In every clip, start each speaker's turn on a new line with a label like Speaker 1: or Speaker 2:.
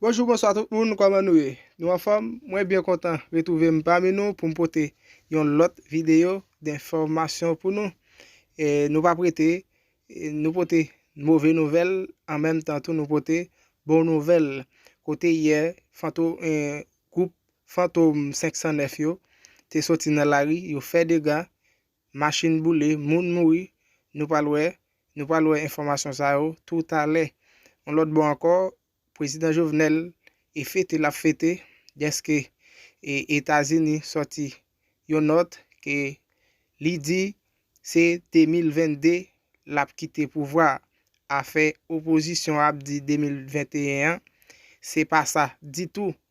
Speaker 1: Bonjou bonswa tout moun kòman nou ye nou anfòm mwen byen kontan retwouve m pami nou pou m pote yon lòt videyo denfòmasyon pou nou e nou pap rete nou pote move nouvèl an menm tan tou nou pote bon nouvèl kote yè fantom gwoup fantom 509 yo te soti nan lari yo fè dega machin boule, moun mouri, nou pral wè, nou pral wè enfòmasyon sa yo tou talè. Yon lòt bò ankò, Prezidan Jovenel e fete lap fete dèske e Etazini sòti yon nòt ke li di se 2022 lap kite pouvwa a, afè opozisyon ap di 2021 an, se pa sa ditou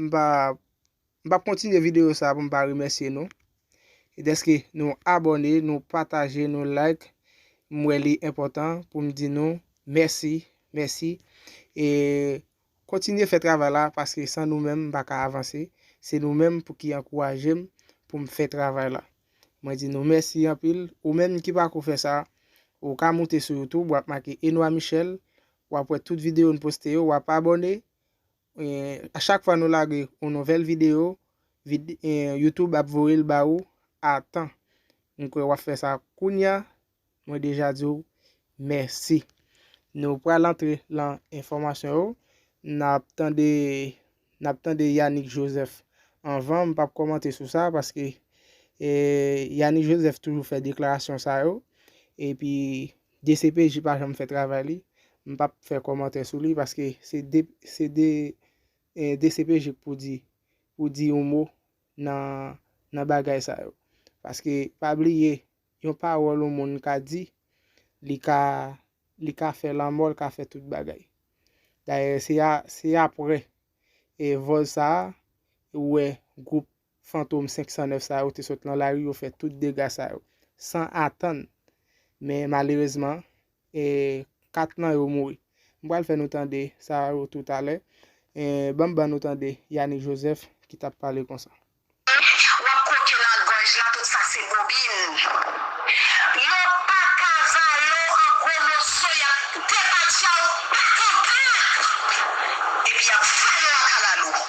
Speaker 1: M pa m pap kontinye videyo sa pou m pa remèsye nou deske nou abòne, nou pataje, nou like. M wè li enpòtan pou m di nou mèsi, mèsi. E kontinye fè travay la paske san nou menm m pa ka avanse. Se nou menm pou ki ankouraje m pou m fè travay la. Mwen di nou mèsi anpil. Ou menm ki pako fè sa, ou ka moute sou YouTube, w ap make Enoy Michel, w ap wè tout videyo n poste yo, w ap abòne, A chak fwa nou lage yon nouvèl video, YouTube ap voye l ba ou a tan. M kwè wap fè sa kounya. Mwen deja di w mèsi. Nou pral antre lan enfòmasyon yo. Nap tande, nap tande Yanick Joseph. Anvan m pap kòmante sou sa paske Yanick Joseph toujou fè deklarasyon sa yo. Epi Dcpj pa janm fè travay li, m pap fè kòmantè sou li paske se de se de dcpj k pou di pou di yon mo nan nan bagay sa yo. Paske pa bliye yon pawòl yon moun ka di li ka li ka fè lanmò l ka fè tout bagay. Dayè se a se aprè e vòl sa a ou wè gwoup fantom 509 sa yo te sot lan lari yo fè tout dega sa yo san atann men malerezman e 4 nan yo mouri m pral fè nou tande sa yo tou talè e banm ban nou tande Yanick Joseph ki tap pale konsa. Wap kroke nan gòj la tout sa se bobin yo paka vale w an gwo moso yap depatcha w patanpant epi yap vale w a kalalou.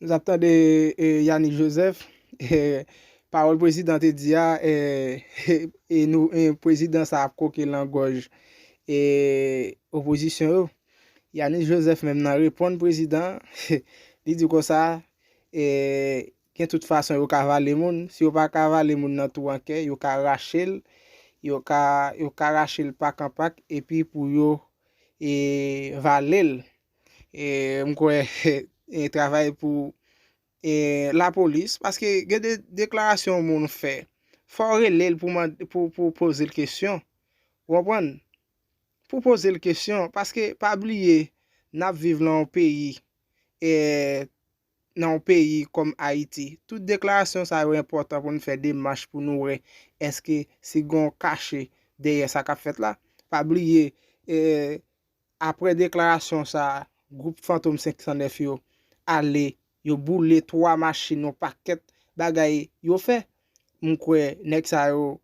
Speaker 1: Nou tap tande Yanick Joseph, pawòl prezidan te di a, prezidan sa ap kwoke lan gòj opozisyon yo. Yanick Joseph menm nan reponn prezidan, li di konsa, gen tout fason yo ka vale moun, si yo pa ka vale moun nan twou an kè, yo ka rache l, yo ka rache l pak an pak, epi pou yo vale l. E m kwè e travay pou e la polis paske gen de deklarasyon moun fè. Fò w rele l pou mande pou pou poze l kesyon. Ou konprann? Pou poze l kesyon paske pa bliye n ap viv nan yon peyi e nan yon peyi kòm Ayiti. Tout deklarasyon sa yo enpòtan pou nou fè demach pou nou wè èske si gen yon kache dèyè sa k ap fèt la. Pa bliye e Aprè deklarasyon sa, gwoup Fantom 509 yo ale, yo boule 3 machin yon pakèt bagay yo fè. M kwè nèg sa yo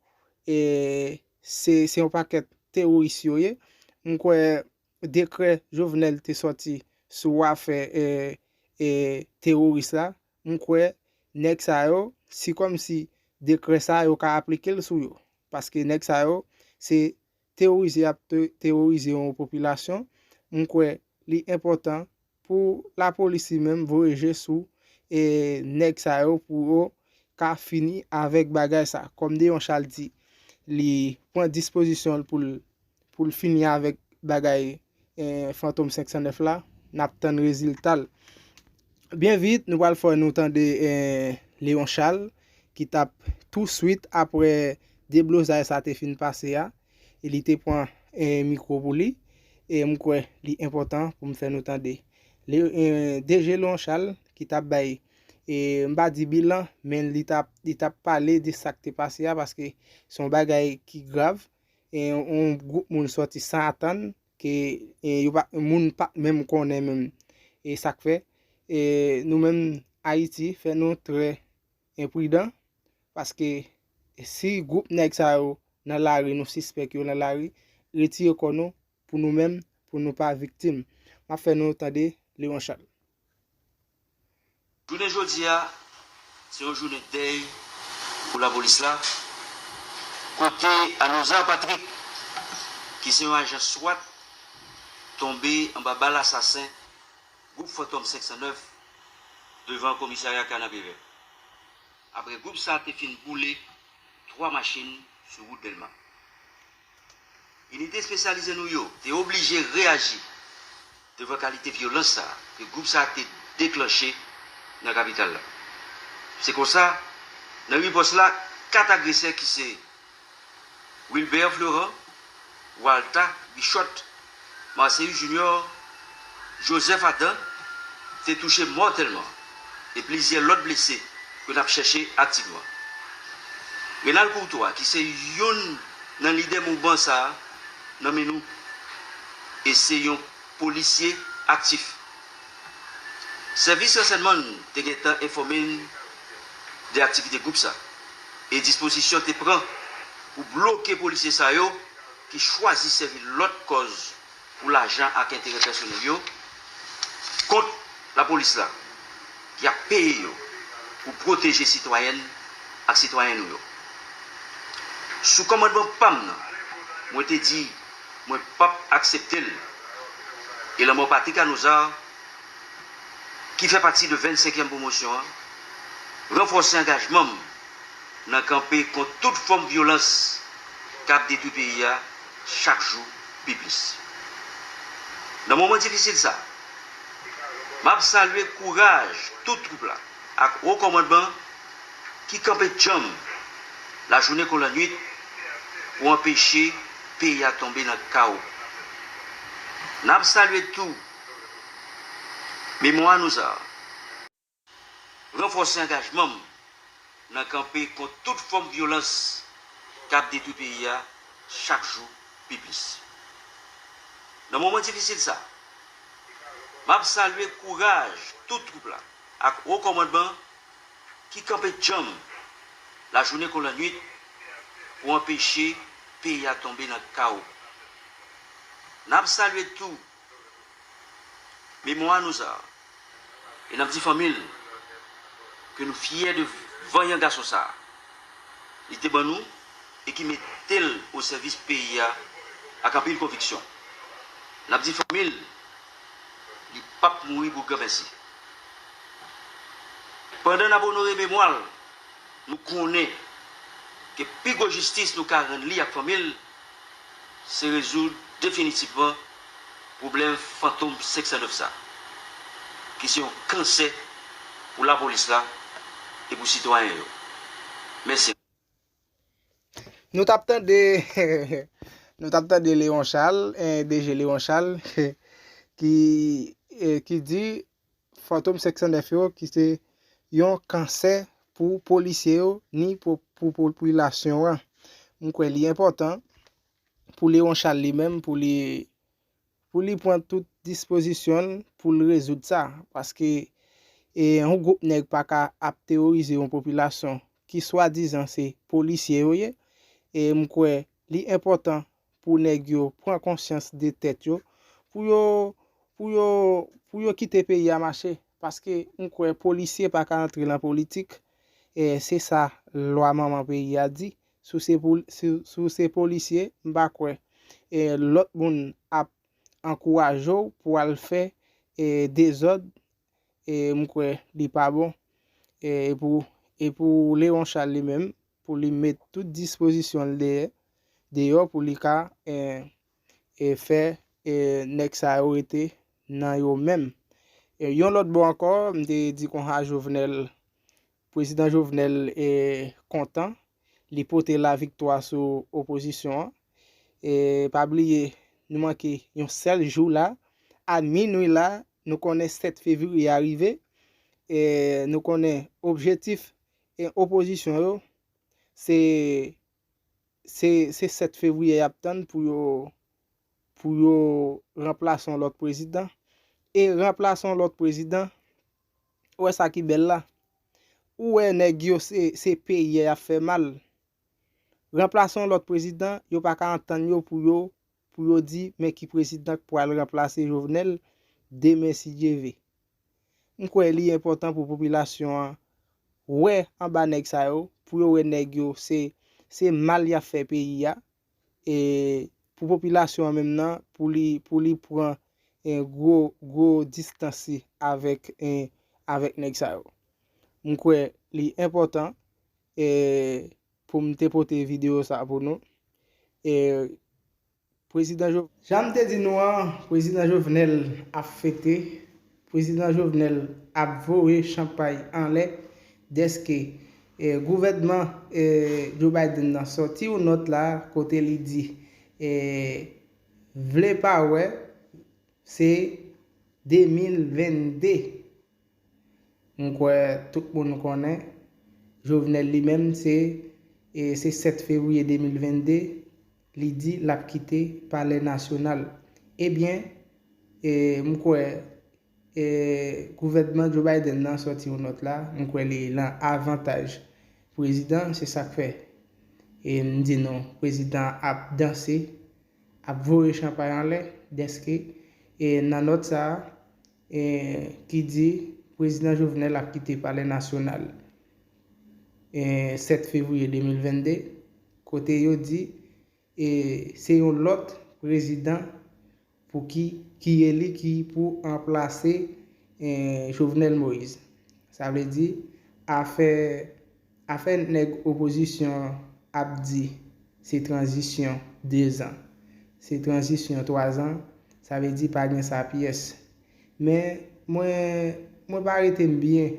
Speaker 1: se yon pakèt teworis yo ye. M kwè dekrè Jovenel te sòti sou afè teworis la, m kwè nèg sa yo si kòm si dekrè sa yo ka aplike l sou yo. Paske nèg sa yo se teworize y ap teworize yon popilasyon, m kwè li enpòtan pou lapolis li menm voye je sou nèg sa yo pou yo ka fini avèk bagay sa. Kòm Deyon Chal di li pran dispozisyon l pou l fini avèk bagay Fantom 509 la nap tann reziltal byen vit nou pral fè nou tande Leon Charles ki tap tou swit aprè deblozay sa te fin pase a e li te pran mikwo pou li e m kwè li enpòtan pou m fè nou tande DG Leon Charles ki tap bay m pa di bilan men li tap pale de sak te pase a paske son bagay ki grav. yon gwoup moun sòti san atann, ke yo pa, moun pa menm konnen menm, e sak fè, e nou menm Ayiti fè nou trè enpridan, paske si gwoup nèg sa yo nan lari, nou sispèk yo nan lari, retire kò nou, pou nou menm, pou nou pa viktim. Map fè nou tande Leon Charles.
Speaker 2: Jounen jodi a, se yon jounen dèy pou lapolis la, kote Anozar Patrick, ki se yon ajan swat, tonbe anba bal asasen gwoup Fantòm 509 devan komisarya Kanapevè, apre gwoup sa te fin boule 3 machin sou wout Dèlma. Inite espesyalize nou yo te oblije reyaji devan kalite vyolans sa a ke gwoup sa a te deklanche nan kapital la. Se konsa, nan ripòs la, 4 agresè ki se, Wilbert Fleurant, Waltha Bichotte, Marcellus Junior, Joseph Adam, te touche mòtèlman e plizyè lòt blese ke nap chèche ak ti dwa. Renald Courtois ki se youn nan lidè mouvman sa a nan men nou e se yon polisye aktif. Sèvis ransènman n te gentan enfòme n de aktivite gwoup sa e dispozisyon te pran pou bloke polisye sa yo ki chwazi sèvi lòt kòz pou lajan ak enterè pèsonèl yo, kont lapolis la ki ap peye yo pou pwoteje sitwayèn ak sitwayen nou yo. Sou kòmandman pa m nan, mwen te di mwen p ap aksepte l e lanmò Patrick Anozard, ki fè pati de 25 èm pwomosyon an, ranfòse angajman m nan kanpe kont tout fòm vyolans k ap detwi peyi a chak jou pi plis. Nan moman difisil sa a, m ap salye kouraj tout twoup la ak wo kòmandman an ki kanpe djanm lajounen kon lannuit pou anpeche peyi a tonbe nan kawo. N ap salye tou memwa nou sa a. Ranfòse angajman m nan kanpe kont tout fòm vyolans k ap detwi peyi a chak jou pi plis. Nan moman difisil sa a, m ap salye kouraj tout twoup la ak Wo Kòmandman an ki kanpe djanm lajounen kon lannuit pou anpeche peyi a tonbe nan kawo. N ap salye tou Memwa nou sa. E n ap di fanmi l ke nou fyè de vanyan gason sa li te ban nou e ki mete l o sèvis peyi a ak anpil konviksyon. N ap di fanmi l li p ap mouri pou granmèsi. Pandan n ap onore memwa l, nou konnen ke pi gwo jistis nou ka rann li ak fanmi l, se rezoud definitifman pwoblèm fantom 509 sa ki se yon kansè pou lapolis la e pou sitwayen yo. Mèsi.
Speaker 1: Nou tap tande Nou tap tande Leon Charles, DG Leon Charles, ki di Fantom 509 yo ki se yon kansè pou polisye yo ni pou popilasyon an. M kwè li enpòtan pou Léon Charles li menm pou li pou li pran tout dispozisyon l pou l rezoud sa. Paske e yon gwoup nèg pa ka ap teworize yon popilasyon ki swadizan se polisye yo ye. E m kwè li enpòtan Pou nèg yo pran konsyans de tèt yo, pou yo, pou yo, pou yo kite peyi a mache. Paske m kwè polisye pa ka antre lan politik, e se sa lwa manman peyi a di. Si w se poli, si w se polisye, m pa kwè e lòt moun ap ankouraje w pou al fè e dezòd, e m kwè li pa bon. E pou, e pou Leron Chal li menm, pou li met tout dispozisyon l dèyè deyò pou li ka fè nèg sa yo rete nan yo menm. Yon lòt bò ankò, m te di konsa Jovenel, Prezidan Jovenel kontan, li pote laviktwa sou opozisyon an. Pa bliye, nou manke yon sèl jou la, a minwi la, nou konnen 7 fevriye a rive, nou konnen objetif E opozisyon yo se se se 7 fevriye yap tann pou yo pou yo ranplase yon lòt prezidan e ranplase yon lòt prezidan ou wè sa ki bèl la ou wè nèg yo se se peyi a yap fè mal ranplase yon lòt prezidan yo pa ka antann yo pou yo pou yo di men ki prezidan k pral ranplase Jovenel demen si Dye ve. M kwè li enpòtan pou popilasyon an wè anba nèg sa yo, pou yo wè nèg yo se se mal y ap fè peyi a, e pou popilasyon an menm nan pou li pou li pran gwo gwo distans li avèk avèk nèg sa yo. M kwè li enpòtan e pou m te pote videyo sa pou nou e. Prezidan Jovenel. Jan m te di nou an, Prezidan Jovenel ap fete, Prezidan Jovenel ap voye chanpay anlè dèske gouvènman Joe Biden nan sòti yon nòt la kote li di vle pa wè se 2022 M kwè tout moun konnen, Jovenel li menm se se 7 fevriye 2022 li di l ap kite palè nasyonal. Ebyen, m kwè gouvènman Joe Biden nan sòti yon nòt la, m kwè li lan avantaj prezidan, se sa k fè m di nou prezidan ap danse, ap voye chanpay anlè dèske nan nòt sa a, Ehh ki di Prezidan Jovenel ap kite Palè Nasyonal Ehh 7 Fevriye 2022 kote yo di Ehh se yon lòt Prezidan pou ki ki eli ki pou anplase Ehh Jovenel Moïse sa vle di afè Afè nèg opozisyon ap di se tranzisyon 2 zan, se tranzisyon 3 zan, sa vle di pa gen sa pyès. Men mwen mwen pa rete m byen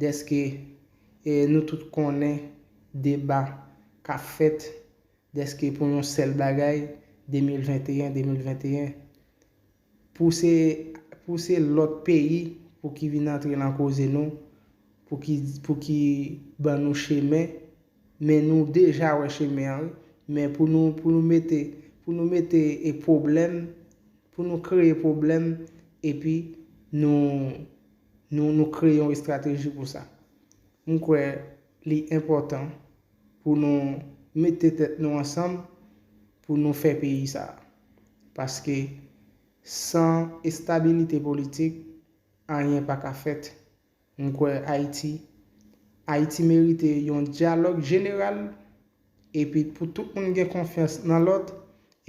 Speaker 1: dèske nou tout konnen deba k ap fèt dèske pou yon sèl bagay 2021, 2021. Pou se pou se lòt peyi pou ki vin antre lan koze nou pou ki pou ki ban nou chemen men nou deja wè chemen an wi men pou nou pou nou mete pou nou mete e pwoblèm pou nou kreye pwoblèm epi nou nou nou kreye yon estrateji pou sa m kwè li enpòtan Pou nou mete tèt nou ansanm pou nou fè peyi sa a. Paske san estabilite politik, anyen pa ka fèt. M kwè Ayiti Ayiti merite yon dyalòg jeneral epi pou tout moun gen konfyans nan lòt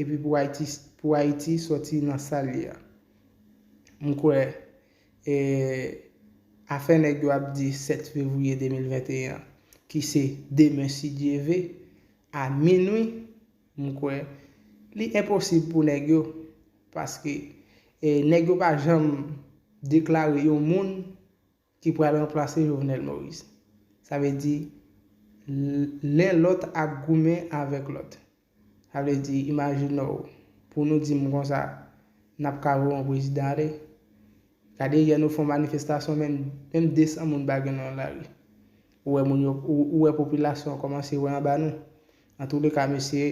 Speaker 1: epi pou Ayiti pou Ayiti sòti nan sa l ye a. M kwè. E afè nèg yo ap di 7 fevriye 2021 an, ki se demen si Dye ve, a minwi, m kwè li enposib pou nèg yo, paske nèg yo pa janm deklare yon moun ki pral ranplase Jovenel Moïse. Sa vle di len lòt ap goumen avèk lòt. Sa vle di, imajine w, pou nou di m konsa, n ap ka voye yon prezidan ale. Gade yè nou fè yon manifestasyon menm, menm 200 moun pa gen nan lari. Ou wè moun yo, ou wè popilasyon an kòmanse wè anba nou. Antouleka mesye,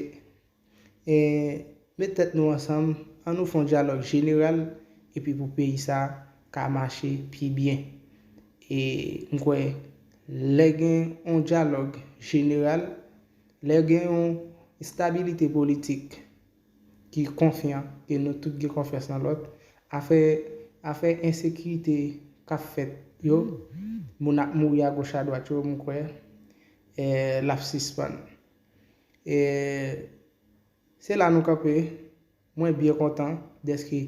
Speaker 1: met tèt nou ansanm, an nou fè yon dyalòg jeneral epi pou peyi sa a ka mache pi byen. E m kwè lè gen yon dyalòg jeneral, Lè gen yon estabilite politik ki konfyan e nou tout gen konfyans nan lòt, afè afè ensekirite k ap fèt yo, moun ap mouri agoch adwat yo, m kwè e l ap sispann. E se la nou kanpe, mwen byen kontan dèske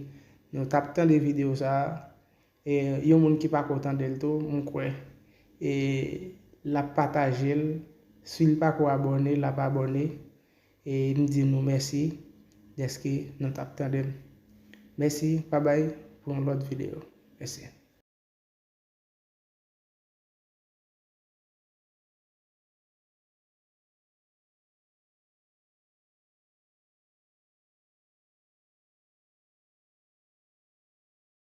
Speaker 1: nou t ap tande videyo sa a E yon moun ki pako tandel tou m kwè e lap patajel sil pako abòne lap abòne e m di nou mèsi dèske nou tap tandem mèsi babay pou yon lòt video mèsi.